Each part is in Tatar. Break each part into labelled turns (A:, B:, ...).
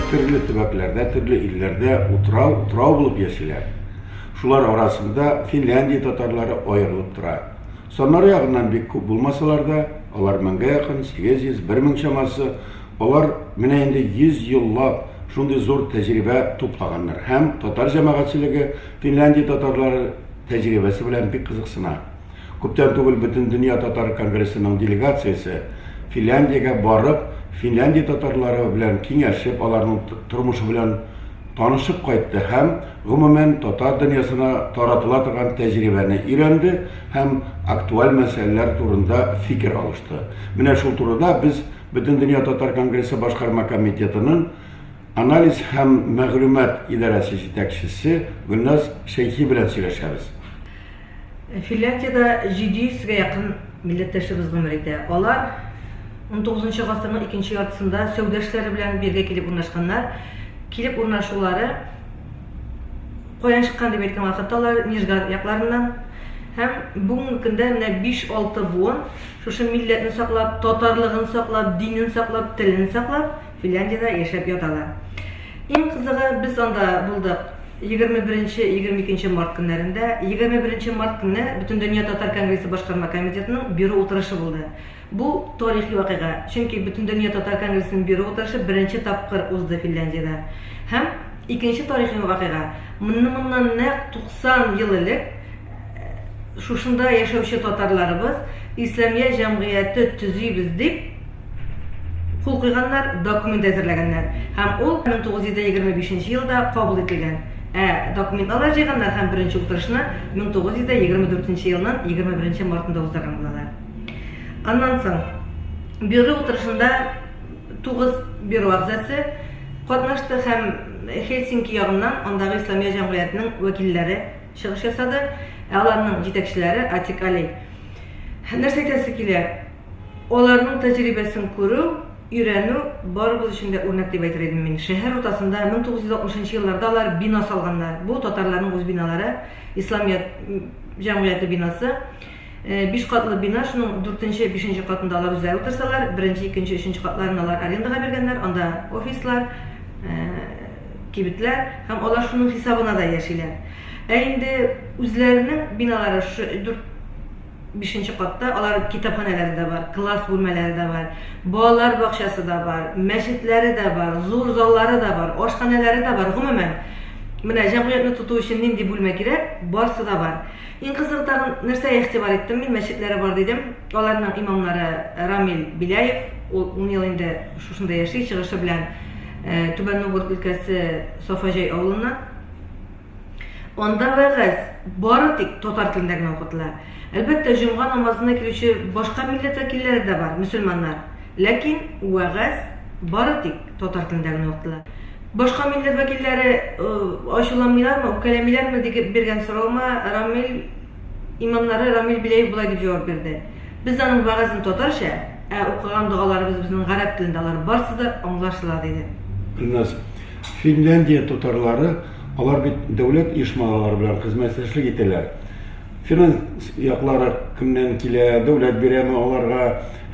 A: төрле төбәкләрдә, төрле илләрдә утрау, утрау булып яшиләр. Шулар арасында Финляндия татарлары аерылып тора. Саннары ягыннан бик күп булмасалар да, алар меңгә якын, 800, 1000 чамасы Алар менә инде 100 еллап шундый зур тәҗрибә туплаганнар һәм татар җәмәгатьчелеге Финляндия татарлары тәҗрибәсе белән бик кызыксына. Күптән түгел Бөтендөнья татар конгрессының делегациясе Финляндиягә барып, Финляндия татарлары белән киңәшеп, аларның тормышы белән танышып кайтты һәм, гомумән, татар дөньясына таратыла торган тәҗрибәне өйрәнде һәм актуаль мәсьәләләр турында фикер алышты. Менә шул турыда без Бөтендөнья татар конгрессы башкарма комитетының анализ һәм мәгълүмат идарәсе җитәкчесе Гөлназ Шәйхи белән сөйләшәбез. Финляндиядә
B: 700 гә якын милләттәшебез гомер итә. Алар унтугызынчы гасырның икенче яртысында сәүдә эшләре белән биргә килеп урнашканнар. Килеп урнашулары каян чыккан дип әйткән вакытта алар Нижгар якларыннан һәм бүгенге көндә менә 5-6 буын Шушы милләтне саклап, татарлыгын саклап, динен саклап, телен саклап, Финляндиядә яшәп яталар. Иң кызыгы, без анда булдык егерме беренче, егерме икенче март көннәрендә. Егерме беренче март көнне Бөтендөнья татар конгрессы башкарма комитетының бюро утырышы булды. Бу тарихи вакыйга, чөнки Бөтендөнья татар конгрессының бюро утырышы беренче тапкыр узды Финляндиядә. Һәм икенче тарихи вакыйга, моннан нәкъ 90 ел элек, шушында яшәүче татарларыбыз Исламия җәмгыяте төзибез дип кул куйганнар, документ әзерләгәннәр. Һәм ул 1925 елда кабул ителгән. Ә документ алар җыйганнар һәм беренче утырышны 1924 елның 21 мартында уздырган булалар. Аннан соң бюро утырышында 9 бюро әгъзасы катнашты һәм Хельсинки ягыннан андагы Исламия җәмгыятенең вәкилләре чыгыш ясады. Ә аларның җитәкчеләре Атик Али. Нәрсә әйтәсе килә, аларның тәҗрибәсен күрү, өйрәнү барыбыз өчен дә үрнәк дип әйтер идем мин. Шәһәр уртасында 1960 нчы елларда алар бина салганнар. Бу татарларның үз биналары, Исламият җәмгыяте бинасы. Биш катлы бина, шуның дүртенче, бишенче катында алар үзләре утырсалар, беренче, икенче, өченче катларын алар арендага биргәннәр, анда офислар, кибетләр һәм алар шуның хисабына да яшиләр. Ә инде үзләренең биналары шушы дүрт, бишенче катта, алар китапханәләре дә бар, класс бүлмәләре дә бар, балалар бакчасы да бар, мәчетләре дә бар, зур заллары да бар, ашханәләре дә бар, гомумән, менә җәмгыятьне тоту өчен нинди бүлмә кирәк, барсы да бар. Иң кызыгы тагын нәрсәгә игътибар иттем мин, мәчетләре бар дидем. Аларның имамнары Рамил Беляев, ул ун ел инде шушында яши, чыгышы белән Түбән Новгород өлкәсе Сафаҗай авылыннан. Анда вәгазь бары тик татар телендә генә укытыла. Әлбәттә, җомга намазына килүче башка милләт вәкилләре дә бар, мөселманнар. Ләкин вәгазь бары тик татар телендә генә укытыла. Башка милләт вәкилләре ачуланмыйлармы, үпкәләмиләрме дип биргән соравыма Рамил имамнары Рамил Беляев болай дип җавап бирде. Без аның вәгазен татарча, ә укыган догаларыбыз безнең гарәп телендә, алар барсы да аңлашыла, диде. Гөлназ, Финляндия
A: татарлары, алар бит дәүләт оешмалары белән хезмәттәшлек итәләр. финанс яклары кемнән килә, дәүләт бирәме аларга,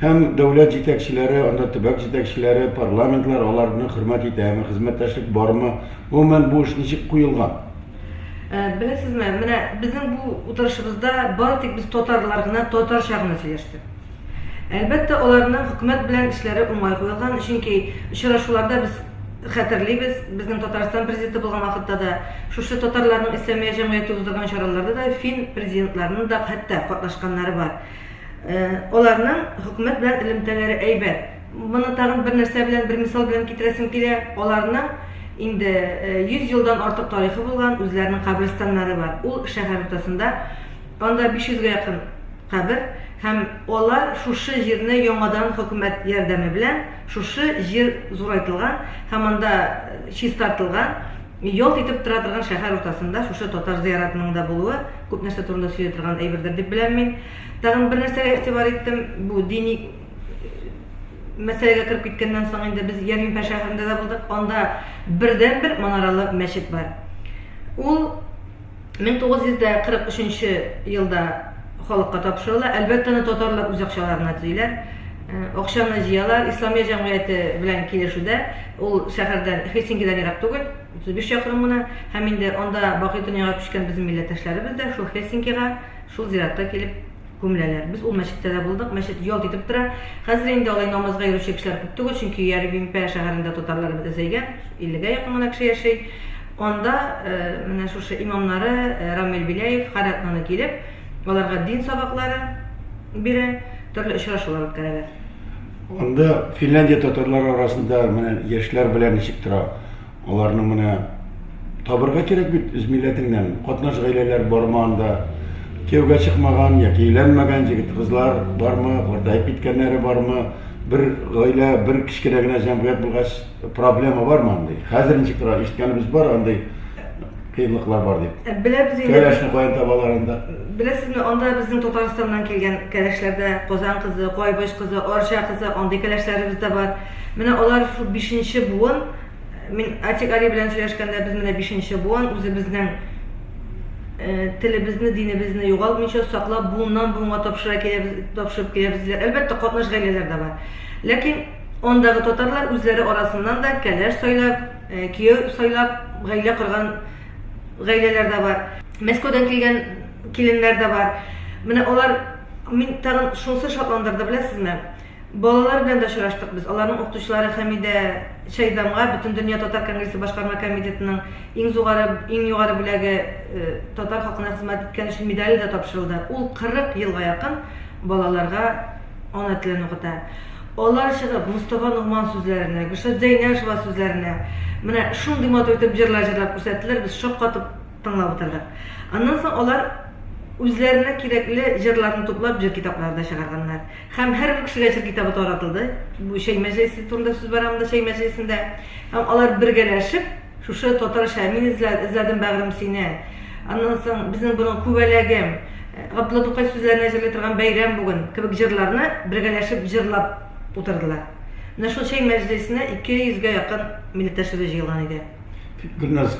A: һәм дәүләт җитәкчеләре, анда төбәк җитәкчеләре, парламентлар аларны хөрмәт итәме, хезмәттәшлек бармы, гомумән бу эш ничек куелган? Э,
B: беләсезме, менә безнең бу утырышыбызда бары тик без татарлар гына татарча гына сөйләштек. Әлбәттә, аларның хөкүмәт белән эшләре уңай куелган, чөнки очрашуларда без хәтерлибез, безнең Татарстан президенты булган вакытта да, шушы татарларның Исламия җәмгыяте уздырган чараларда да фин президентларының да хәтта катнашканнары бар. Аларның хөкүмәт белән элемтәләре әйбәт. Моны тагын бер нәрсә белән, бер мисал белән китерәсем килә. Аларның инде 100 елдан артык тарихы булган, үзләренең каберстаннары бар. Ул шәһәр уртасында, анда 500 гә якын Кабер һәм алар шушы җирне яңадан хөкүмәт ярдәме белән шушы җир зурайтылган һәм анда чистартылган, ялт итеп тора торган шәһәр уртасында шушы татар зыяратының да булуы күп нәрсә турында сөйли торган әйбердер дип беләм мин. Тагын бер нәрсәгә игътибар иттем, бу дини мәсьәләгә кереп киткәннән соң инде без Ярминпә шәһәрендә дә булдык, анда бердәнбер манаралы мәчет бар. Ул 1943 елда халыкка тапшырыла. Әлбәттә, аны татарлар үз акчаларына төзиләр. Акчаны җыялар. Исламия җәмгыяте белән килешүдә, ул шәһәрдән, Хельсинкидан ерак түгел, 35 чакрым гына. Һәм инде анда бакый дөньяга күчкән безнең милләттәшләребез дә шул Хельсинкига, шул зиратка килеп, күмеләләр. Без ул мәчеттә дә булдык, мәчет ялт итеп тора. Хәзер инде алай намазга йөрүче кешеләр күп түгел, чөнки Ярвимпә шәһәрендә татарлар бетәзәйгән, 50 гә якын гына кеше яши. Анда менә шушы имамнары Рамил Беляев һәр атнаны килеп, аларга дин сабаклары бирә, төрле очрашулар үткәрәләр. Анда
A: Финляндия татарлары арасында менә яшьләр белән ничек тора? Аларның менә табырга кирәк бит үз милләтеңнән. Катнаш гаиләләр бармы анда? Кияүгә чыкмаган яки өйләнмәгән җегет-кызлар бармы? Картаеп киткәннәре бармы? Бер гаилә, бер кечкенә генә җәмгыять булгач, проблема бармы андый? Хәзер ничек тора? Ишеткәнебез бар андый кыенлыклар бар дип. Ә, Беләбез инде. Кәләшне каян
B: табалар анда?
A: Беләсезме, анда
B: безнең Татарстаннан килгән кәләшләрдә Казан кызы, Кайбыч кызы, Арча кызы, андый кәләшләребез дә бар. Менә алар шул бишенче буын. Мин Атик Али белән сөйләшкәндә, без менә бишенче буын, үзебезнең э, телебезне, динебезне югалтмыйча саклап, буыннан буынга тапшыра киләбез, тапшырып киләбез диләр. Әлбәттә, катнаш гаиләләр дә бар. Ләкин андагы татарлар үзләре арасыннан да кәләш сайлап, э, кияү сайлап, гаилә корган гаиләләр дә бар. Мәскәүдән килгән киленнәр дә бар. Менә алар мин тагын шунысы шатландырды, беләсезме? Балалар белән дә очраштык без. Аларның укытучылары Хәмидә Чайдамга Бөтендөнья татар конгрессы башкарма комитетының иң зугары, иң югары бүләге, татар халкына хезмәт иткән өчен медале дә тапшырылды. Ул 40 елга якын балаларга ана телен укыта. Алар чыгып, Мостафа Ногман сүзләренә, Гөлшат Зәйнәшева сүзләренә менә шундый матур итеп җырлар җырлап күрсәттеләр, без шаккатып тыңлап утырдык. Аннан соң алар үзләренә кирәкле җырларны туплап җыр китаплары да чыгарганнар. Һәм һәр бер кешегә чыр китабы таратылды. Бу чәй мәҗлесе турында сүз бара монда, чәй мәҗлесендә. Һәм алар бергәләшеп, шушы татарча Мин эзлә- эзләдем бәгърем сине, аннан соң Безнең борын күбәләгем, Габдулла Тукай сүзләренә җырлый торган Бәйрәм бүген кебек җырларны бергәләшеп җырлап утырдылар. Менә шул чәй мәҗлесенә ике йөзгә якын милләттәшебез җыелган иде. Гөлназ.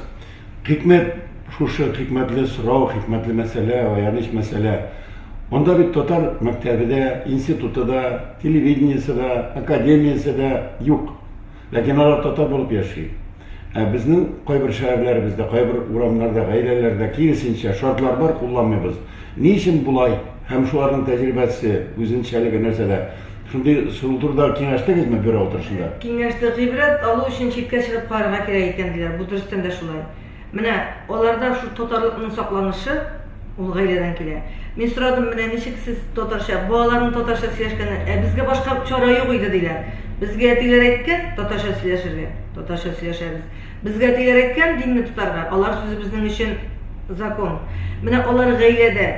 A: Хикмәт шушы, хикмәтле сорау, хикмәтле мәсьәлә, аяныч мәсьәлә. Монда бит татар мәктәбе дә, институты да, телевидениесе да, академиясе дә юк. Ләкин алар татар булып яши. Ә безнең кайбер шәһәрләребездә, кайбер урамнарда, гаиләләрдә киресенчә шартлар бар, кулланмыйбыз. Ни өчен болай? Һәм шуларның тәҗрибәсе, үзенчәлеге нәрсәдә? Шундый сору турыда киңәштегезме бюро утырышында? Киңәштек. Гыйбрәт
B: алу өчен читкә чыгып карарга кирәк икән, диләр. Бу дөрестән дә шулай. Менә аларда шул татарлыкның сакланышы, ул гаиләдән килә. Мин сорадым, менә ничек сез татарча, балаларның татарча сөйләшкәнен, ә безгә башка чара юк иде, диләр. Безгә әтиләр әйткән, татарча сөйләшергә, татарча сөйләшәбез. Безгә тәгәрәккән динне тотарга, алар сүзе безнең өчен закон. Менә алар гаиләдә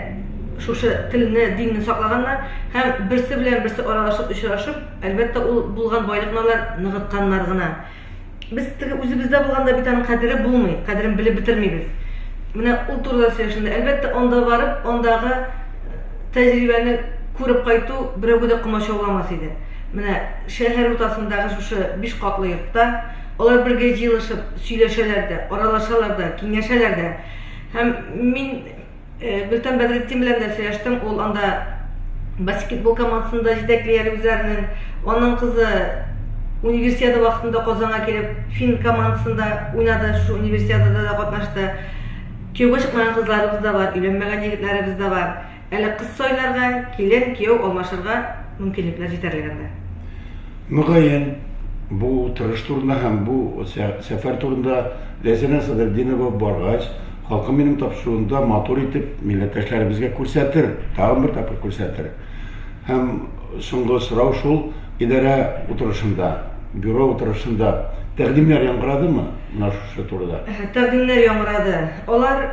B: шушы телне, динне саклаганнар һәм берсе белән берсе аралашып, очрашып, әлбәттә, ул булган байлыкны алар ныгытканнар гына. Без теге үзебездә булганда бит аның кадере булмый, кадерен белеп бетермибез. Менә ул турыда сөйләшенде. Әлбәттә, анда барып, андагы тәҗрибәне күреп кайту берәүгә дә комачауламас иде. Менә шәһәр уртасындагы шушы биш катлы йортта Алар бергә җыелышып сөйләшәләр дә, аралашалар да, киңәшәләр дә. Һәм мин Гөлтан Бәдретдин белән дә сөйләштем. Ул анда баскетбол командасын да җитәкли әле үзләренең. Аның кызы универсиада вакытында Казанга килеп, фин командасында уйнады, шул универсиадада да катнашты. Кияүгә чыкмаган кызларыбыз да бар, өйләнмәгән егетләребез дә бар. Әле кыз сайларга, килен, кияү алмашырга мөмкинлекләр җитәрлек анда. Мөгаен,
A: бу утырыш турында һәм бу сәфәр турында Ләйсәнә Садретдинова баргач, халкым минем тапшыруында матур итеп милләттәшләребезгә күрсәтер, тагын бер тапкыр күрсәтер. Һәм соңгы сорау шул, идарә утырышында, бюро утырышында тәкъдимнәр яңгырадымы? Шул турыда. Тәкъдимнәр яңгырады.
B: Алар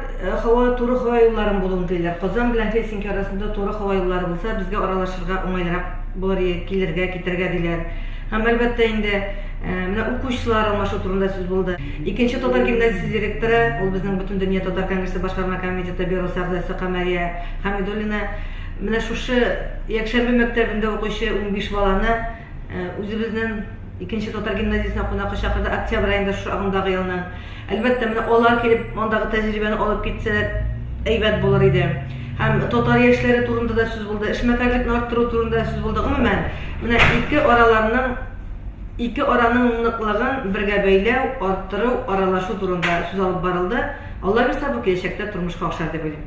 B: һава туры һава юлларын булуын телиләр. Казан белән Хельсинки арасында туры һава юллары булса, безгә аралашырга уңайлырак булыр иде, килергә, китәргә, диләр. Һәм, әлбәттә инде, менә укучылар алмашу турында сүз булды. Икенче татар гимназиясе директоры, ул безнең Бөтендөнья татар конгрессы башкарма комитеты бюросы әгъзасы Камәрия Хәмидуллина менә шушы якшәмбе мәктәбендә укучы унбиш баланы, Үзебезнен икенче татар гимназиясенә кунакка чакырды октябрь аенда шушы агымдагы елның. Әлбәттә, менә алар килеп, андагы тәҗрибәне алып китсәләр, әйбәт булыр иде. Һәм татар яшьләре турында да сүз булды, эшмәкәрлекне арттыру турында да сүз булды. Гомумән, менә ике араларның, ике араның ныклыгын бергә бәйләү, арттыру, аралашу турында сүз алып барылды. Алла бирса, бу киләчәктә тормышка ашар дип уйлыйм.